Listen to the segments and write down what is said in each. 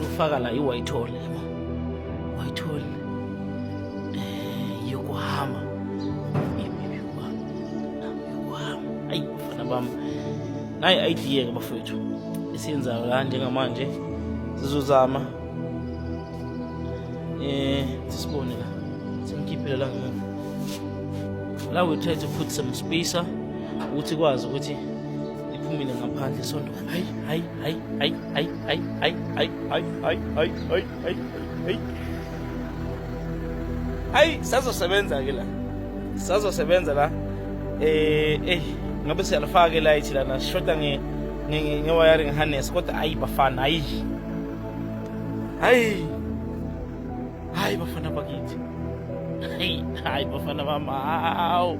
Lufaka la iWhitehall yabo. Whitehall eh yokuhamba. Yimi yokuhamba. Yokuhamba. Ayi bafana bami. Nayi idea ke bafethu. Esiyenza la njengamanje sizozama eh sisibone la. Sengikhiphile la ngemuva. La we try to put some spacer ukuthi kwazi ukuthi iphumile ngaphandle sonto hayi sazosebenza ke la sazosebenza la eh eh ngabe siyalifaka ke light lana sishoda nge nge nge wiring harness kodwa ayi bafana ayi hayi hayi bafana bakithi hayi hayi bafana bami hawu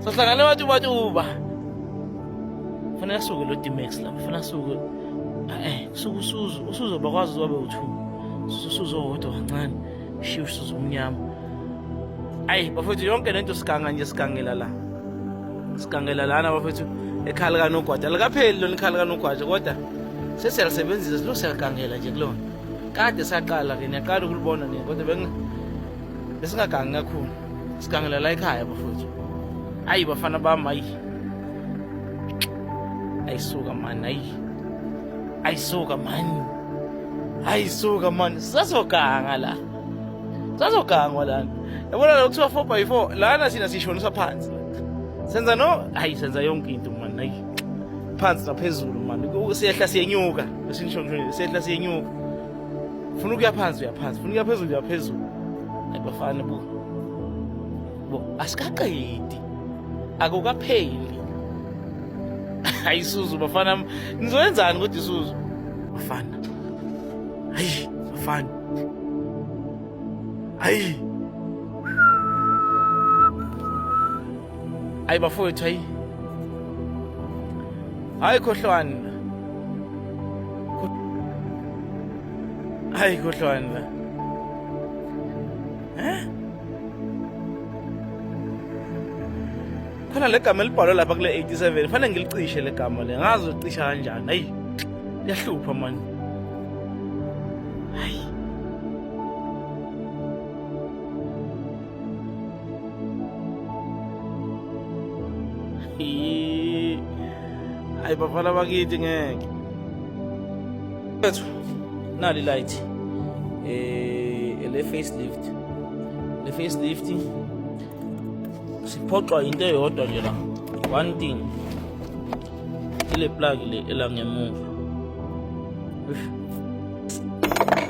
sohlangane wathi uba Funa asuke lo Dimex la, funa asuke eh kusuka usuzo, usuzo bakwazi ukwabe uthu. Usuzo wodwa kancane, shiya usuzo omnyama. Ayi bafethu yonke lento siganga nje sigangela la. Sigangela lana bafethu ekhala kanogwaja. Likapheli lona ikhala kanogwaja kodwa sesiyalisebenzisa silosiyagangela nje kulona. Kade saqala ke niyaqala ukulibona nini kodwa bengi besingagangi kakhulu sigangela la ekhaya bafowethu ayi bafana bami ayi ayisuka mani ayi ayisuka mani ayisuka mani sasoganga la sasogangwa lana yabona la kuthiwa four by four lana thina sishonisa phansi senza no ayi senza yonke into mani ayi phansi naphezulu mani siyehla siyenyuka esinishonishonile siyehla siyenyuka funa ukuya phansi uyaphansi funa ukuya phezulu uyaphezulu ayibafana bu bo asikaqedi akukapheli ayisuzu bafana nizoyenzani kodwa isuzu bafana hayi bafana hayi ayi bafowethu hayi hayi khohlwani hayi khohlwani la eh khona legama elibhalwe lapha kule 87 fanele ngilicishe legama le ngazi ucisha kanjani hayi liyahlupha manje Ay, bafana bakithi ngeke. Mfethu, nali light. Eh, le facelift. Le facelift siphoxwa into eyodwa nje la. One thing. Ile plug le elangemuva.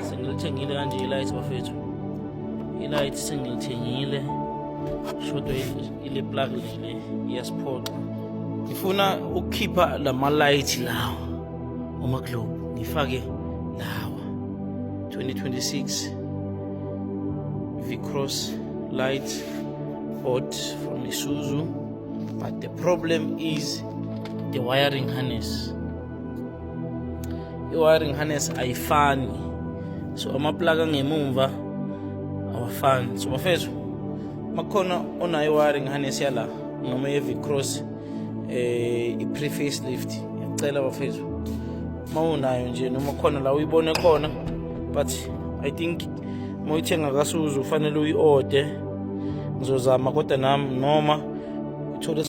Sengilithengile kanje light bafethu. Ilight sengilithengile shodwa ile plug le iyasiphoxa. Ngifuna ukukhipha lama light lawa uma globe ngifake lawa 2026 V-Cross light bought from Isuzu but the problem is the wiring harness i-wiring harness ayifani so amaplaka angemumva awafani so bafethu makukhona onayo i-wiring harness yala noma ye-vicross eh i-preface lift ngiyacela bafethu uma unayo nje noma khona la uyibone khona but i think uma uyithenga kasuzu ufanele uyi-ode ngizozama kodwa nami noma uthole